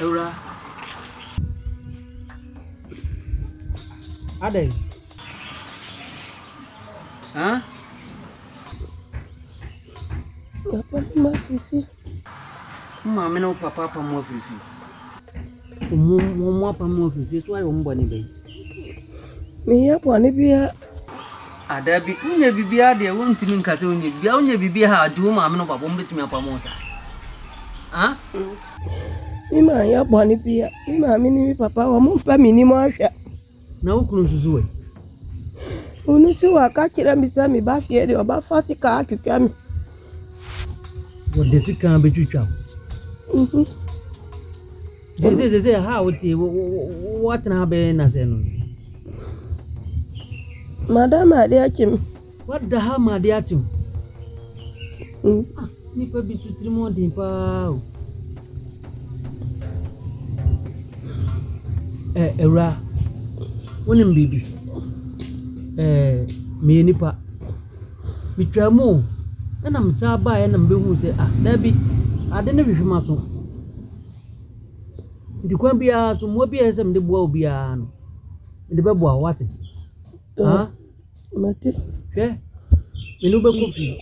Awuraa. Adɛn? Hã? Papa, ma fifi. Wo maame ne wo papa apam wo afiri fie. Mmom wɔn apam wo afiri fie. So woayɛ wɔn bɔne bɛn? Menyɛ bɔne biara. Ah, dabi, wonyɛ biribiara deɛ, wontumi nka sɛ wonyɛ biribiara. Wonyɛ biribiara a, ɔde wo maame ne wo papa, wɔbɛtumi apam wo saa? Ah? Me maanyɛ bɔne biara. Me maame ne me papa, wɔmpɛ m'anim ahwɛ. Na wo kunu nso so ɛ? Ɔno nso waka kyerɛ me sɛ meba fie deɛ ɔbɛfa sika atwitwa me. Wɔde sika bɛtwitwa wo? Mhm. Sɛ sɛ sɛ sɛ ha a wote wo- wo- wo- wo- woatena ha bɛyɛ nnasɛ no. Madam ade akye me. Wada ha ma ade akye wo. Mm. Ah, nipa bi so tirim ɔden paa o. Eh, awura, wonim biribi? Eh, meyɛ nipa. Metwaa mu o, ɛna mesaa baeɛ na mebɛhuu sɛ, ah, daabi, ade no hwehwe ma so. Nti kwan biara so, mmoa bi a ɛsɛ sɛ mede boa obiara no, mede bɛboa wo, wate? Ah. Mate. Hwɛ, mene wo bɛkɔ fie.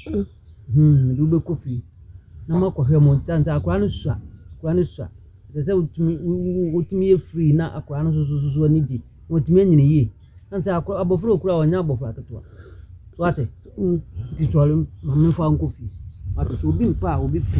Mm. Hmm, mede wo bɛkɔ fie na moakɔhwɛ mo nkyɛn sɛ akwadaa no sua. Akwadaa no sua. Ɛsɛ sɛ wotumi wotumi yɛ free na akwadaa no soso soso ani gye. Wɔtumi anyini yie. Na sɛ akwadaa abɔfra okura ɔnyɛ abɔfra ketewa. So ate? Mm. Nti sɔre maame fa nkɔ fie. Ate sɛ obi mpa a obi pɛ.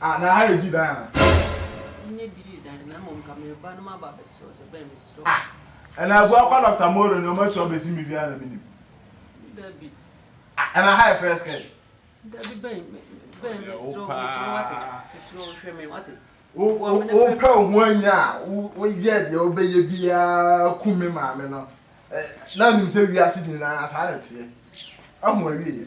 Ah, na ha yɛ gyi dan anaa? Ɛnyɛ gyidi dan, na mmom nka mereba na maba abɛsrɛ wo sɛ bɛn mesrɛ wo. Ah, ɛna abua kɔ Doctor Moro no ɔmo atu abɛsi me fie a na menim? Dabi. Ah, ɛna ha yɛ first kɛn? Dabi bɛn, bɛn mesrɛ wo, mesrɛ wo wate, mesrɛ wo hwɛ me wate. Wopɛ wo ho anya a, woyɛ deɛ wobɛyɛ biara ku me maame no. Na nim sɛ wiase nyinaa saa na ɛteɛ. Ahu awieɛ.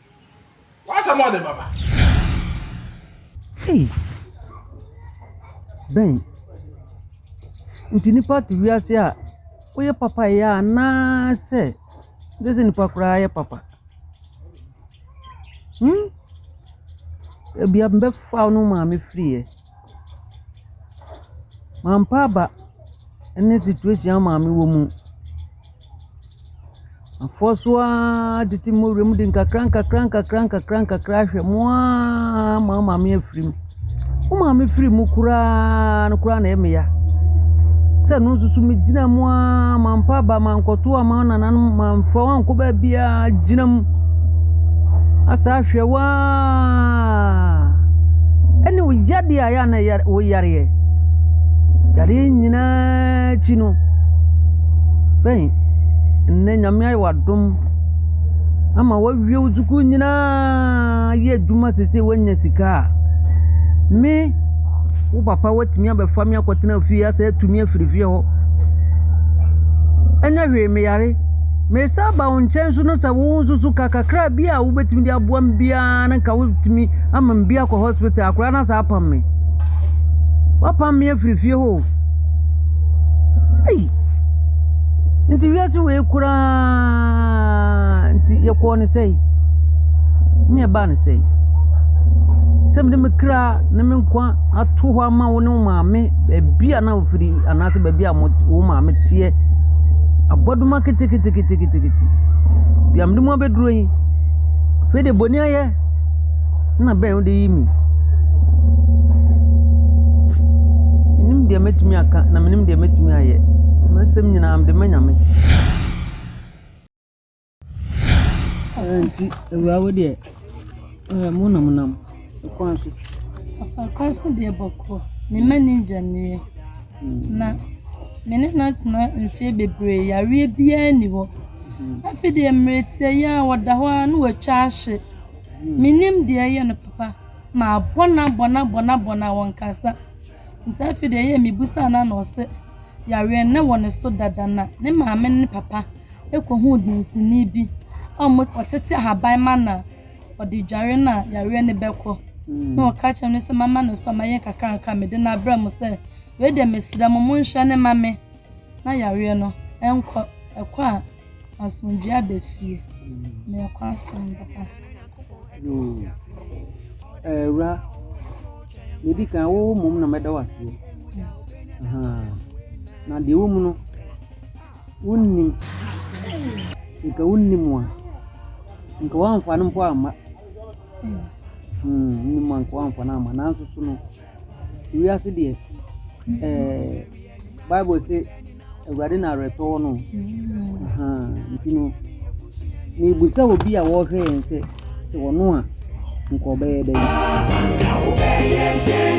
What's more than Baba? Hey. Ben. Nti nipa te wiase a woyɛ papa yɛ a naa sɛ sɛ sɛ nipa koraa yɛ papa. Hmm? Ebia mbɛfa no maame firi yɛ. Mampa aba ne situation a maame wɔ mu. Afɔr so ara tete mu wura mu de nkakra nkakra nkakra nkakra nkakra ahwɛ mu ara ama wo maame afiri mu. Wo maame firi mu koraa no koraa na ɛyɛ me ya. Sɛ ɛno nso so megyina mu ara mampa aba mankɔto amma wo nananom mamfa wo ankɔ baabiara gyina mu asɛ ahwɛ wo ara. ɛne wo yadeɛ a yɛ a na wo yareɛ yadeɛ nyinaa akyi no bɛn nnɛ nyame ayɛ w'adom ama wawie wo sukuu nyinaa yɛ adwuma sese woanya sika a me wo papa watumi abɛfa me akɔtena fie asɛ atumi afiri fie hɔ ɛnyɛ hwee meyare Mesan aba wo nkyɛn nso na sɛ wo nso so ka kakra bi a wobɛtumi de aboa me biara no nka wotumi ama me bi akɔ hospital akora no asa apam me wapam me afiri fie hɔ o ei nti wiase wei koraa nti yɛkɔɔ ne sɛi ne yɛbaa ne sɛi sɛ mede me kra ne me nkwa ato hɔ ama wo ne wo maame baabi a Ofiri anaasɛ baabi a mo wo maame teɛ. Abɔdoma keteketekete. Bia mede mo abɛduro yi. Afei deɛ bɔni ayɛ na bɛn wode yi mi. Menim deɛ mɛtumi aka na menim deɛ mɛtumi ayɛ. M'asɛm nyinaa mede ma Nyame. Ɛno nti awura wo deɛ ɛɛ mo nam nam kwan so. Papa kwan so deɛ bɔkɔ me mma ni gya nie na me ne no atena mfeɛ bebree yareɛ biara nni hɔ afi deɛ mmerɛ tiɛ yi a ɔda hɔ ara na watwa ahye menim deɛ ɛyɛ no papa mabɔ no abɔ no abɔ no abɔ no a ɔnkasa. Ntsi afei de yie mibisaa no a nna ɔse yareɛ no na wɔ ne so dada na ne maame ne ne papa kɔhuu dansinii bi a ɔtsetse ahaban ma no a ɔde dware no a yareɛ no bɛkɔ na ɔka kyerɛɛ me no sɛ mama no so a mayɛ nkakrankra a mede no abrɛ mo sɛ wei deɛ mesrɛ mo monhwɛ no ma me na yareɛ no nkɔ, ɛkɔ a. Asomdwoe aba fie. Na ɛkɔ asom papa. Yoo. Awura, na edi kan wo mmom na mɛda wo aseɛ. Na deɛ ɛwɔ mu no, wonnim. Nka wonnim a, nka woamfa no mpo amma. Wonnim a, nka woamfa no amma. Nanso so no. Wiase deɛ, ɛɛ Bible se Awurade na awerɛtɔ wɔ no o. Nti no, mebisa obi a ɔrehwɛ yɛn sɛ, sɛ ɔno a, anka ɔbɛyɛ dɛn?